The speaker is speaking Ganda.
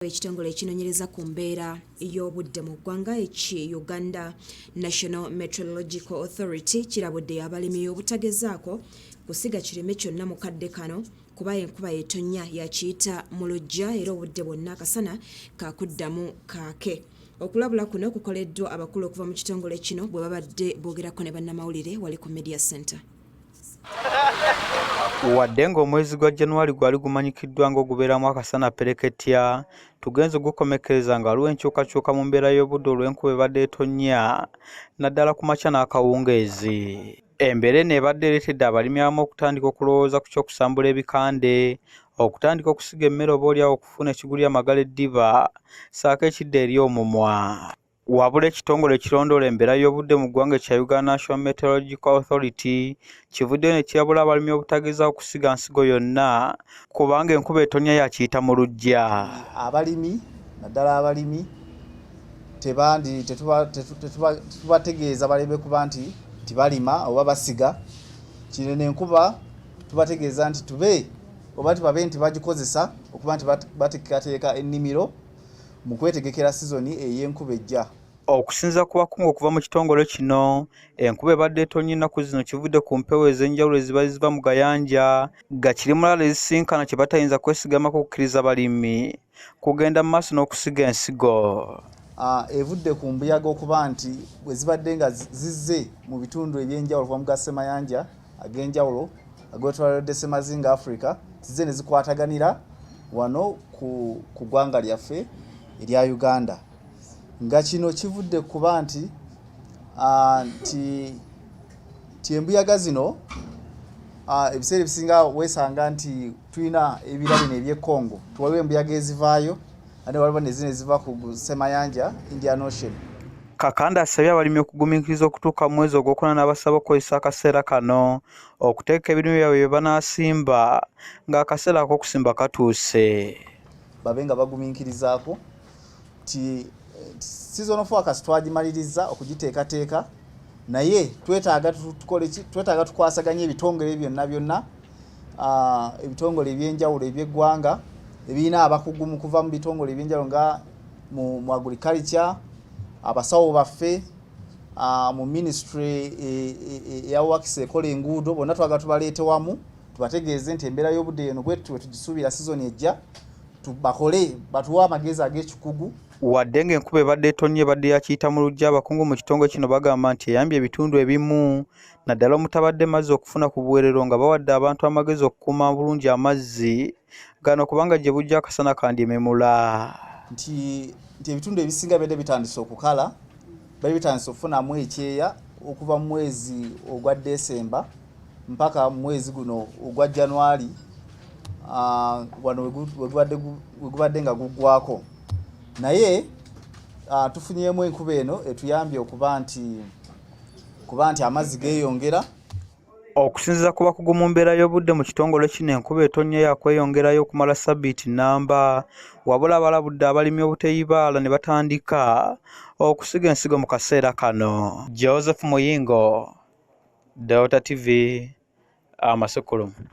ekitongole ekinonyereza ku mbeera y'obudde mu ggwanga eki uganda national metrological authority kirabudde abalimi obutagezaako kusiga kirime kyonna mu kadde kano kuba enkuba yetonnya yakiyita mu lujja era obudde bwonna akasana kakuddamu kaake okulabula kuno kukoleddwa abakulu okuva mu kitongole kino bwe babadde boogerako ne bannamawulire wali ku media center Wadde ng'omwezi gwa January gwali gumanyikiddwa ng'ogubeeramu akasana pereketya, tugenze gukomekkereza nga waliwo enkyukakyuka mu mbeera y'obudde olw'enkuba ebadde etonnya naddala ku makya n'akawungeezi. Embeera eno ebadde ereetedde abalimi abamu okutandika okulowooza ku ky'okusambula ebikande, okutandika okusiga emmere oba olyawo okufuna ekigulira magala eddiba ssaako ekidda eri omumwa. Wabula ekitongole ekirondoola embeera y'obudde mu ggwanga ekya Uganda National Meteorological Authority kivuddeyo ne kirabula abalimi obutagezaako kusiga nsigo yonna kubanga enkuba etonya yakiyita mu luggya. Abalimi naddala abalimi tebandi tetubategeeza baleme kuba nti tibalima oba basiga kino nenkuba tubategeeza nti tube oba tubabe nti bagikozesa okuba nti bateekateeka ennimiro. mu kwetegekera sizoni ey'enkuba ejja. Okusinzira ku bakungu okuva mu kitongole kino, enkuba ebadde etonnye ennaku zino kivudde ku mpewo ez'enjawulo ezibadde ziva mu gayanja ga kirimulaalo ezisisinkana kye batayinza kwesigamako kukkiriza balimi kugenda mu maaso n'okusiga ensigo. Ah, evudde ku mbuyaga okuba nti bwe zibadde nga zizze mu bitundu eby'enjawulo kuva mu ga Semayanja, ag'enjawulo agotwalidde semazinga africa zize nezikwataganira wano ku ggwanga lyaffe erya uganda nga kino kivudde kuba nti nti nti embuyaga zino ebiseera ebisinga weesanga nti tulina ebirabino eby'ekongo tuwaliwo embuyaga ezivaayo ate waliwo nezina eziva ku semayanja indian ocean kakanda asabye abalimi okugumiikiriza okutuuka mu mwezi ogwokuna n'abasaba okukozesa akaseera kano okuteeka ebirime byabwe bye banaasimba ng'akaseera ak'okusimba katuuse babe nga bagumiikirizaako ti sizon of workers twagimaliriza okugiteekateeka naye twetaaga tukole ki twetaaga tukwasaganya ebitongole byonna byonna ebitongole ebyenjawulo ebyeggwanga ebirina abakugu mu kuva mu bitongole ebyenjawulo nga mu agriculture abasawo baffe mu ministry e, e, e, eyawakisa ekola enguudo bonna twaga tubaleete wamu tubategeeze nti embeera y'obudde eno bwe tugisuubira sizoni ejja bakole batuwe amagezi ag'ekikugu wadde ng'enkuba ebadde etonnya ebadde yakiyita mu lujja abakungu mu kitongole kino bagamba nti eyambye ebitundu ebimu naddala omutabadde mazzi okufuna ku buwerero nga bawadde abantu amagezi okukuuma bulungi amazzi gano kubanga gye bujja akasana kandyememula nti nti ebitundu ebisinga bede bitandise okukala bali bitandise okufunamu ekyeya okuva mu mwezi ogwa desemba mpaka mu mwezi guno ogwa januari ah, wano wegubadde nga guggwako naye ah, tufunyemu enkuba eno etuyambye okuba nti kuba nti amazzi geeyongera okusinziza ku bakugu mu mbeera y'obudde mu kitongole kino enkuba etonnya yakweyongerayo okumala sabbiiti nnamba wabula abalabudde abalimi obuteyibaala ne batandika okusiga ensigo mu kaseera kano joseph muyingo delta tv amasukulumu ah,